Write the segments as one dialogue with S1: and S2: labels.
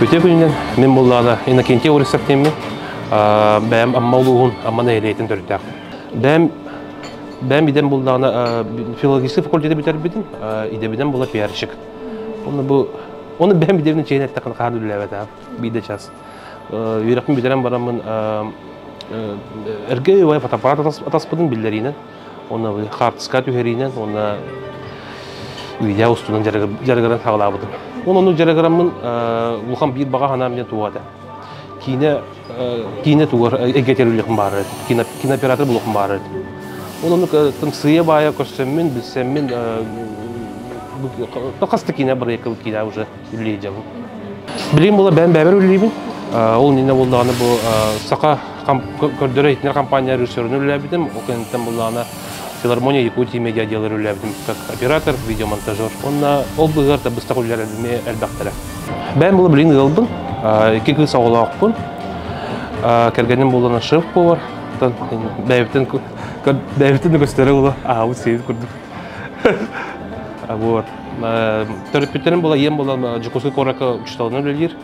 S1: Үтүө күнүнэн мин буллаана Иннокентий Урисов диэммин бэйэм Амма улууһун Амма нэһилиэгин төрүттээх. бэйэм бэйэм идэм буллаҕына филологическай факультеты бүтэрбитим идэбинэн була пиарщик онно бу оны бэйэм идэбинэн чейин эттэххин хаһан үлэлээбэт аҕам биирдэ час үөрэхпин бүтэрэн бараммын эргэ үбай фотоаппарат атаспытын биллэриинэн уонна хаартыска түһэриинэн уонна видео устунан жарыгыран саҕалаабытым онон дьарыгыраммын улахан биир баҕа санаам диэн туох этэ киинэ киинэ тугар эйгэтэр үлэхм баарыт кинооператор булуохм баарыт ол оннук сыйа баайа көрсөммүн билсэммин хасты киинэ бырайыккабыл киинэ уже үллеежабы билим була бээн бэбэр үллейбин ол нина буллааны бу саха көрдөрө итинер компания режиссерын үллээбитим ол кэнниттэн буллаана филармония Якутии медиа дьыалар үлэлээбитим как оператор, видеомонтажер. Уонна ол быыһыгар да быстах үлэлэр эмиэ элбэхтэрэ. Бэйэм була билин ыалбын, икки кыыс оҕолоохпун. Кэргэним буолана шеф буолар. Бэйэбитин бэйэбитин да көстөрө була аабыт сиһин курдук. Вот. Төрөппүттэрим була ийем була Жукуска куоракка учителынан үлэлиир.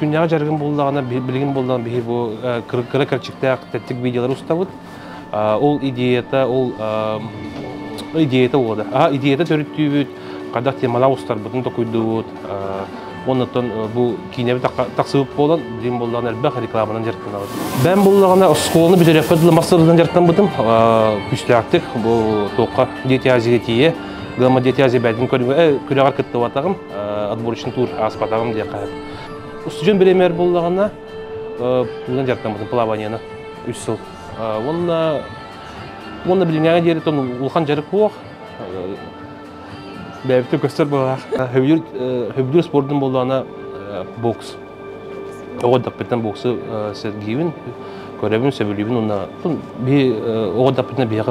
S1: күннээҕи дьарыгым буоллаҕына билигин буоллаҕына биһи бу кыра кэрчиктээх тэттик видеолары устабыт ол идеята ол идеята уода идеята төрүттүүбүт хайдах темалаах устарбытын токуйдубут оннуттан бу киинэбит тахсыбыт буолан дим боллаҕына элбэх рекламанан дьарыктанабыт бэм буллаҕына оскуоланы бүтөрөппөт ыла мастарынан дьарктанбытым күстээктик бу туохха диэтиази тиийэ гамма диэтиази бээтин көрүҥэ күрэҕэр кыттыбатаҕым отборочный тур ааспатаҕым диэххэ устудьуон бириэмэр буоллаҕына тыынан дьарыктаммытым плаванияны үс сыл уонна уонна билиҥҥээҕи диэри тон улахан дьарык буох бэйэбитин көстөр быһаах хөвдүүр спордун буоллаҕына бокс оҕо даппыттан боксу сэргиибин көрөбүн сөбүлүүбүн уонна оҕо даппытынан биһиэхэ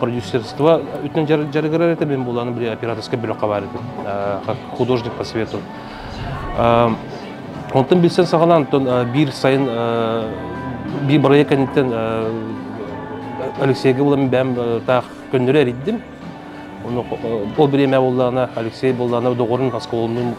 S1: продюсерство үтүн дьарыгырар этэ мин буланы били операторскай бөлөххө бар художник по свету онтон билсэн саҕалаан биир сайын биир бырайыак кэнниттэн Алексейга булан бэм таах көннөрү эриддим ол время буллаана Алексей боллаана доҕорун оскуолалыын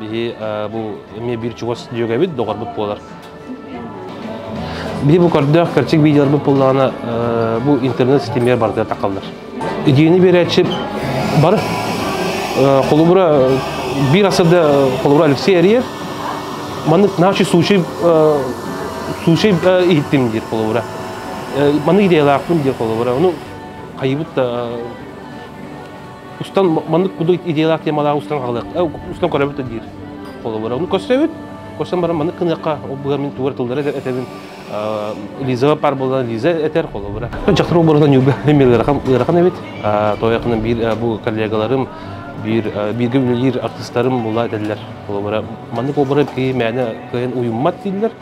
S1: Биһи бу эмиэ биир чугас дьүөгэбит, доҕорбут буолар. Биһи бу көрдөөх кэрчик видеоларбыт буоллаҕына бу интернет ситимигэр барытыгар тахаллар. Идеяны биэрээччи бары холобура биир асырда холобура Алексей Ариев маннык наши случай случай иһиттим диир холобура маннык идеялаахпын диир холобура ону хайыбыт да устан маннык буду идеялаах темалаах устан хаалыах устан көрөбүт да диир холобура ну көрсөбүт көрсөн баран маннык гыныахха ол быһа мин тугу тыллары этэбин лиза пар болан лиза этер холобура дьахтар оборона ньуга ырахан эбит тояқынан биир бу коллегаларым биир бииргэ үлэлиир артыстарым була этеллер холобура маннык обора ки мээнэ кыйын уйуммат дииллер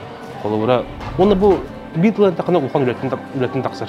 S1: холобура уонна бу биир тылын тахана улахан үлэтин үлэтин тахсар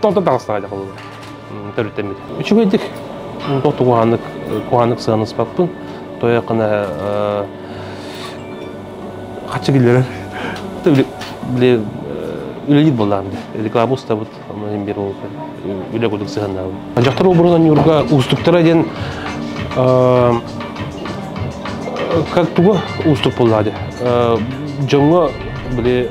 S1: Тонтон таҕыстаҕа дьахалылар төрүттэммит. Үчүгэйдик куһааннык куһааннык сыаныспаппын. Тойоқына хаччы киллэрэн үлэлиир буоллаам реклама устабыт онон бир ол үлэ кудук сыһаннаабын дьахтар обурун ньурга устуктара диэн как туга уступ буллаады дьоҥҥо били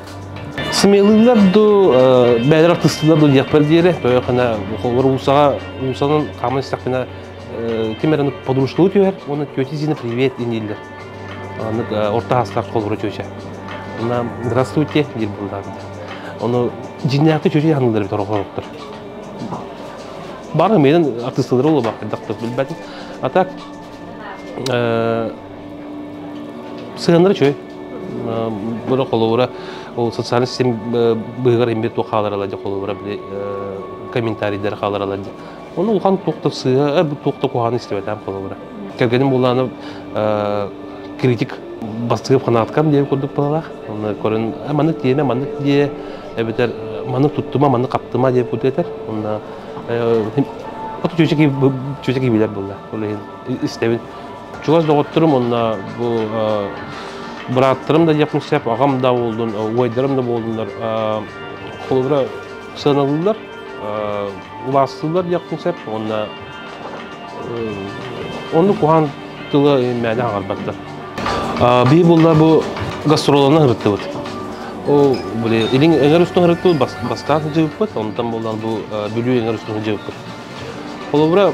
S1: Симелыылар дуу, бэйэлэр артыыстыылар дуу диэхпэр диэри, тоyokana холлор уусаҕа уусанан хааман истэхпинэ ким эрэ подружкалыы түһэр уонна тетя Зина привет дииллэр. Оннук орто хаастаах холлоро тетя. Онна здравствуйте диир буоллаҕа. Ону дьиннээхти тетя ханыылар бит ороҕороттор. Бары миэнин артыыстылары олоба хайдахтар билбэтин. А так Сыһыаннара үчүгэй. Быра холобура ол социальный сеть быһыгар имбир туох хааларалар дьа холобура били комментарийдер хааларалар дьа. Ону улахан туох да сыһа туох да куһааны истибэтээм холобура. Кэргэним булааны критик бастыгып ханаткам диэн курдук балалах. Оны көрүн маны тиеме маны дие эбетер маны туттума маны каптыма диэн кутетер. Онна оту чөчеки чөчеки билер булла. Ол иһин истэбин Чугас доҕотторум уонна бу бырааттарым да диэхпин сөп, аҕам да буолдун, убайдарым да буоллуннар холобура сыаналыыллар, убаастыыллар диэхпин сөп уонна оннук куһаҕан тылы мээнэ аҕарбаттар. Бии булла бу гастролынан ырыттыбыт. Ол были илин эҥэр устун ырыттыбыт бастаан сыдьыыппыт, онтон булан бу бүлүү эҥэр устун сыдьыыппыт. Холобура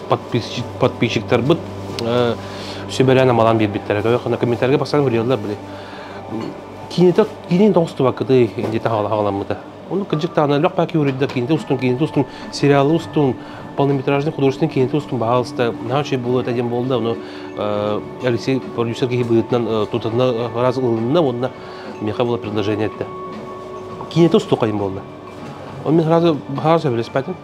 S1: подписчиктарбыт сүбэлээн амалаан биэрбиттэрэ комментарийга бастаан үлэлэлэр были кинита кинин тоҕустубаккытый диэте хаҕаламмыта Оны кырдьык таана лөх паки уридда кинита устун кинита устун сериалы устун полнометражный художественный кинита устун баһаалыста наһаа үчүгэй буолуо этэ диэн буолда ону Алексей продюсер киһи быһыытынан тутанна раз ылынна уонна меха было предложение этэ кинита усту хайын буолда он мен сразу баһаар сөбүлэспэтин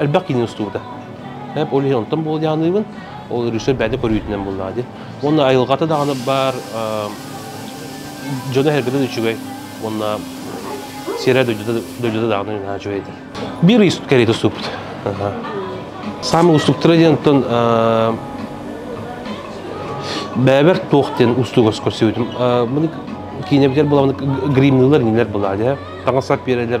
S1: Элбэх кинини устубута. Эп ол иһин онтон буолдааныыбын. Ол режиссер бэйэтэ көрүүтүнэн буллаа диэн. Уонна айылҕата даҕаны баар дьоно эргэтэ да үчүгэй. Уонна сиэрэ дойдута даҕаны наһаа үчүгэй этэр. Биир ис кэриэтэ уступпут. Самый устуктара диэн оттон бэбэр туох диэн устугас көрсүбүтүм. Маны киинэбитигэр буламын гримныылар кинилэр була дия. Таҥаса пиэрэлэр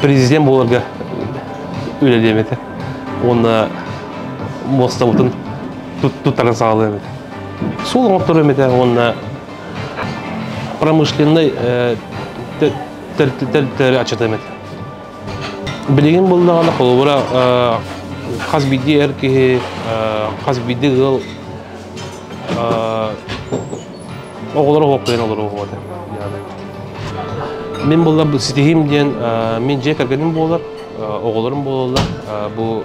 S1: президент буоларга үлэлиэм этэ уонна муостабытын туттарын саҕалыам этэ суол оҥорторуом этэ уонна промышленнай тэрили аччатыам этэ билигин булдаҕына холобура хас биирдии эр киһи хас биирдии ыал оҕолор олохтойон олороҕуота мин буллар ситиһиим диэн мин дьиэ кэргэним буолар оҕолорум буолаллар бу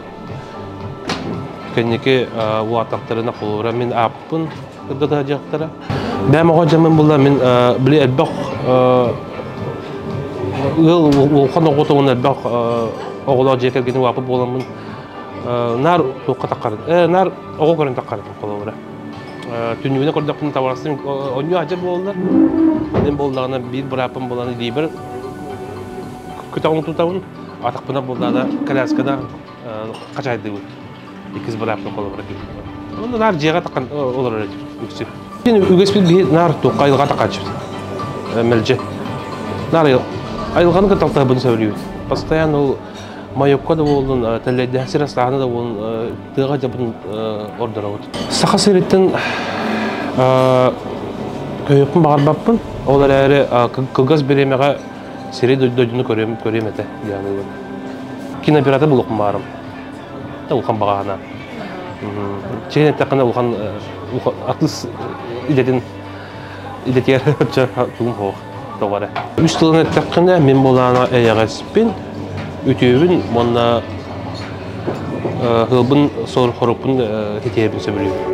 S1: кэнники уатахтарына холура мин ааппын кырдата дьахтара бэм оҕо дьамын булла мин били элбэх ыал улахан оҕотугун элбэх оҕолоох дьиэ кэргэним уапы буоламмын наар туохха таххарын э наар оҕо көрөн таххарын холура түннүгүнэн көрдөхпүнэ табарастың онньу адьа буолла манан буоллаҕына биир бырааппын булан илиибэр күтөҕүн тутабын атахпына буллаана колясканы хачайдыбыт иккис бырааппын холобура киирбитим онно наар дьиэҕэ тахан олорор үксү үгэспит киһи наар туохха айылҕа тахаччыт мэлдьи наар айылҕаны кытта талтаһабын сөбүлүүбүт постоянно ол майокко да буоллун тэллэйдээх сир астааһына да буоллун тыаҕа дьабын ордоробут. Саха сириттэн өйүппүн баҕарбаппын. Ол эрээри кылгас бириэмэҕэ сири дойдуну көрүөм көрүөм этэ диэн кинооператор булуохум баарым. Улахан баҕаһына. Чигин эттэххинэ улахан артыыс идэтин идэтигэр сылдьар тугум суох тоҕо эрэ үс тылын эттэххинэ мин булаана эйэҕэспин үтүөбүн уонна сылбын хоруппун ситиһэбин сөбүлүүбүн